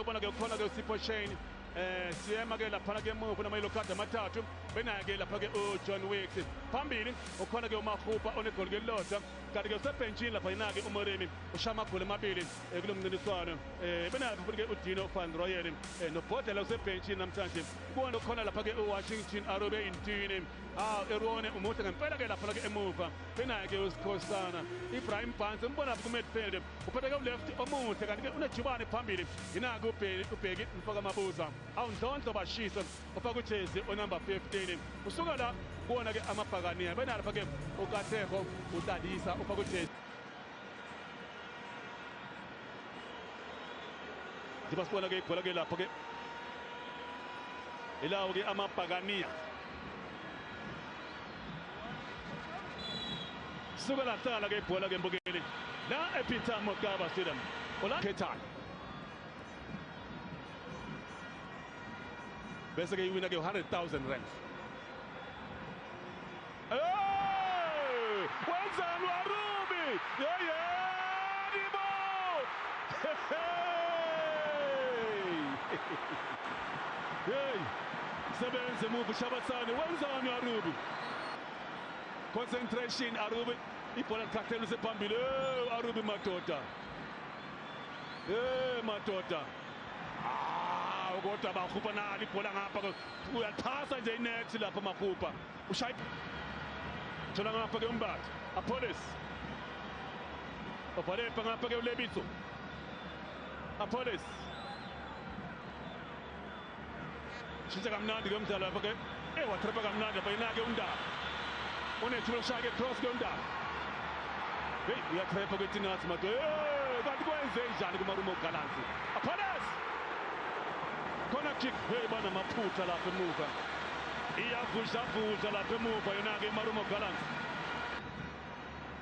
Ubona ke ukhona ke uSipho Shane eh siyema ke laphana ke emuva namayelo card amathathu benaye ke lapha ke uJohn Wicks phambili ukhona ke uMahupa onegoli ke lodwa kanti ke usebhentshini lapha yena ke uMoremi ushaya amagoli amabili eh, kulo mncintiswano eh benaye futhi ke uDino van Rooyen eh, nobhodlela usebhentshini namhlanje kuwona ukhona lapha ke uWashington Arobe Intini ah erone umuhle ngempela ke lapha ke emuva benaye ke uSikhosana Ibrahim Barnes umbona lapha ku midfield uphetheke uleft omuhle kanti ke unejubane phambili yinaka ubheki mfoka mabuza awundlondlo bashise ufaka ujezi onumber 15 usuka la kuwona ke amabhakaniya benalapha ke ukatheko utadisa ufaka ujezi njengoba sibona ke ibhola ke lapho ke ilawo ke amabhakaniya suke lahlala ke ibhola ke mbukeli la ePeter Mokaba Stadium ola Ketan bese ke iwina ke 100000 rand wenzani warubi yeyeni bo hey Sebenze move Shabasane wenzani Arubi? Concentration Arubi ibhola likhathele usephambili eh Arubi madoda. Eh madoda. Ah kodwa bakhupha nalo ibhola ngapha uyathasa nje inet lapha makhupha. Ushaya thola ngapha ke umbatha. Apholis. Obhale ngapha ke uLebitso. Apholis. shintsha kamnandi ke umdlalo lapha ke eh watrapa kamnandi lapha yena ke undaba unethuba lokushaya ke cross ke undaba heyi uyatrapa ke tinathi madoda eh, kanti kwenze njani kumarumo galansi aphalas khona kick heyi banamaphutha lapha emuva iyavudlavudla lapha emuva yona ke imarumo galansi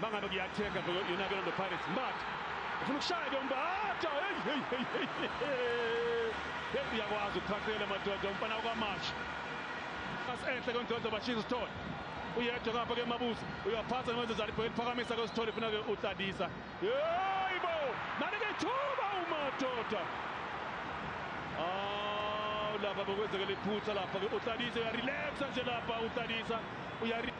Mangabe kuyathenga yonakela no Pirates Mbatha. Ufuna ukushaya ke uMbatha. Hey hey hey hey. Hey uyakwazi ukuphathela madoda umfana kwamasha. Asenhle kondodo bashiya isithole. Uyedwa kapha ke mabuza. Uyaphatha ngenze zali phela phakamisa ke isithole funa ke utladisa. Hey bo. Nani ke thuba umadoda. Ah lapha bokwenzeka lephutha lapha ke utladisa uyarelaxa nje lapha utladisa. Uyari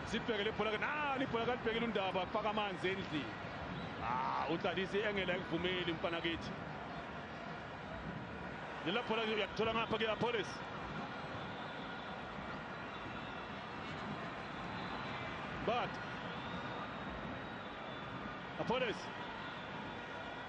sibhekele ibhola ke nalo ibhola kalibhekile undaba kufaka amanzi endlini ah uqalisa iengela ekuvumeli mfana kithi lela bhola uyakuthola ngapha ke Apollos but Apollos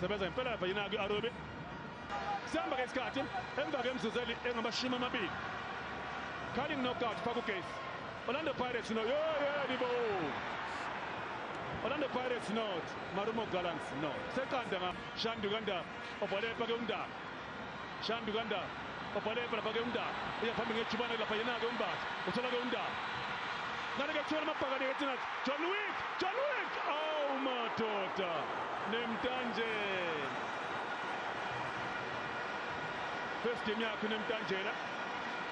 sebenza ngempela lapha yina kwi-arobe sihamba ke isikhathi emva kemzuzeli engamashumi amabili calling knockout pha kugesi orlando pirates no yoyelibo orlando pirates not marumo gallants no seqanda nga shandu kanda obhale pake undaba Shandu kaNdaba obhaleva lapha ke uNdaba uya phambili ngejubane lapha yena ke uMbatha uthola ke uNdaba ngale ke kuthiwa amabhakane ke thina John Wick John Wick awu madoda nemtanjela first game yakhe nemtanjela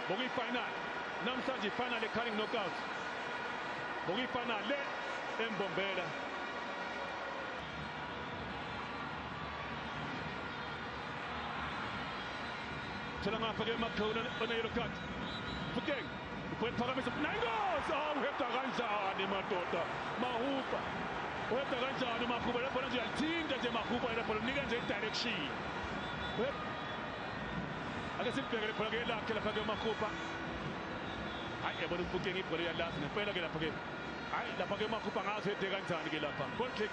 ngokuyifinal namhlanje ifinal ecarring knockout ngokuyifinal le embombela Tshela ngapha ke Makhona oneyelo card. Fukeng ukwephakamisa nayingozi awuheda ah, kanjani madoda mahuba uheda kanjani mahuba le bhola nje yalithinta nje mahuba le bhola nika nje i-direction ake silibheke le bhola ke lakhe lapha ke mahuba hayi yabona umfukeng ibhola iyalazi ngempela ke lapha ke hayi lapha ke mahuba ngazi uhede kanjani ke lapha goal kick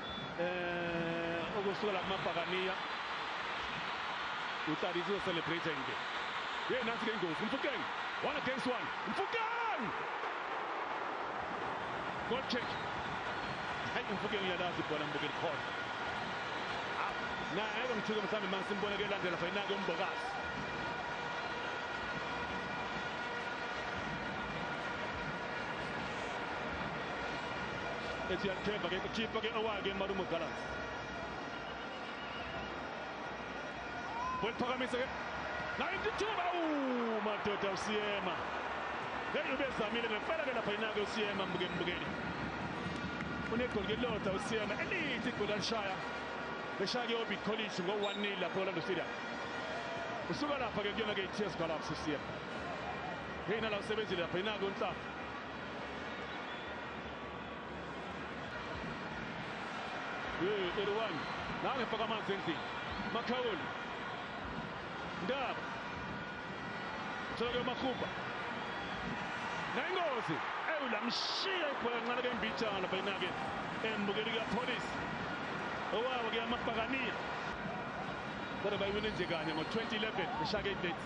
eh okusukela kumabhakaniya uTadizwe celebrating ke hey nansi ke ingozi mfukeng one against one mfukeng goal kick hayi mfukeng uyalazi ibhola mbukeli khona ah, na ake ngithuke mhlawumbe mangisimbona ke landela fayinake umbokazi Etienne Kemba ke kukhipha ke owake Malumo Gallants. Weliphakamisa ke 92 awu madoda usiyema. Hey ubezamile ngempela ke lapha inake usiyema mbukeni mbukeni. Unegoli ke lodwa usiyema elithi igoli alishaya. Beshaya ke Orbit College ngo 1-0 lapha Orlando Stadium. Usuka lapha ke kuyona ke iTS Gallants usiyema. Hey nala usebenzile lapha inake unhlanga. Hey, 31. Now we forgot man Zenzi. Makaul. Ndaba. Tsoke Makuba. Nengozi. Ewu lamshiya ibhola kancane ke mbijana phela nake. Embukeli ka police. Owawa ke amabhakaniya. Kodwa bayiwine nje kanye ngo-2011 beshake idates.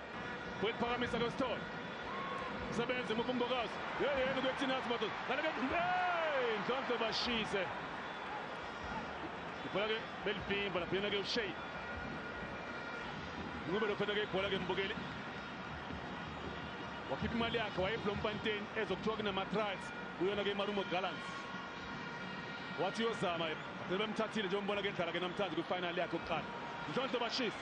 Wephakamisa lo Sithole. Sebenze mupha umbokazi. Yeyeni ukuthina simato. Kanike hey Ndlondlo bashise. Ibhola ke belivimba lapha yena ke uShay. Ngube lo fana ke ibhola ke mbukeli. Wakhipha imali yakhe wayeblompanteni ezokuthiwa kunama-trials kuyona ke imarumo gallants wathi uyozama sebemthathile njengombona ke edlala ke namhlanje kwifinal yakhe yokuqala ndlondlo bashisa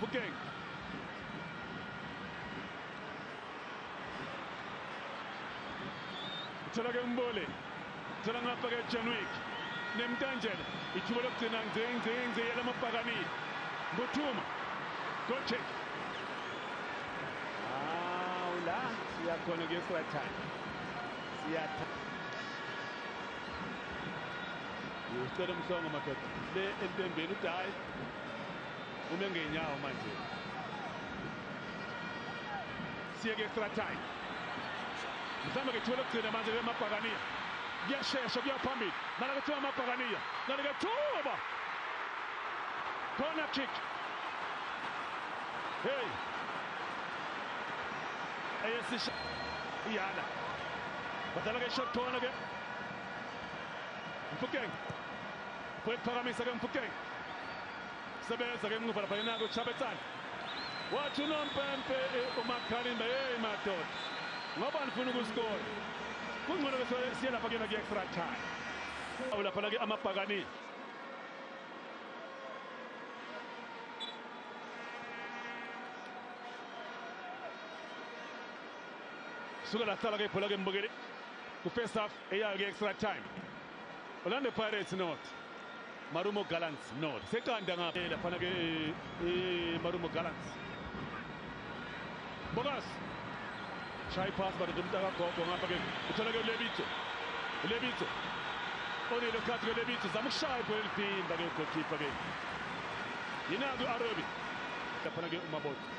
Phokeng. Thola ke umbole. Thola ngapha ke Janwick. Nemtanjela. Ithuba lokugcina nje nje nje yalamabhakani. Mbuthuma. Go check. Ah, ula siyakhona ke Srathan. Siyatha. Ucela umhlongo madoda. Le entembeni udayi. ume ngenyawo manje siye ku-extra time mhlawumbe ke thole kugcina manje ke mabhakaniya kuyashesha kuya phambili nala kuthiwa amabhakaniya nali ke thuba corner kick hey eyesisha iyana badlala ke short corner ke mfukeng Kwephakamisa ke Mfukeng. Sebenza ke muva lapha yena ko Chabetsani. Wathi unompempe eh, umakhalimba hey madoda. Ngoba nifuna ukuskora. Kungcono ke siye lapha kuyena kuyi-extra time. Awu lapha la ke amabhakani. Suka la hlala ke ibhola ke mbukeli. Ku-first half eyayo ke-extra time. Orlando Pirates not. Marumo Gallants not. Seqanda ngapha eh, laphana ke eh, eh, Marumo Gallants. Bogas. Shy pass but the mtaka gogo ngapha ke. Uthola ke Lebitso. Lebitso. Onile khathi ke Lebitso zama ukushaya ibhola elidimba ke goalkeeper ke. Yinaki uArobi. Laphana ke uMabotho.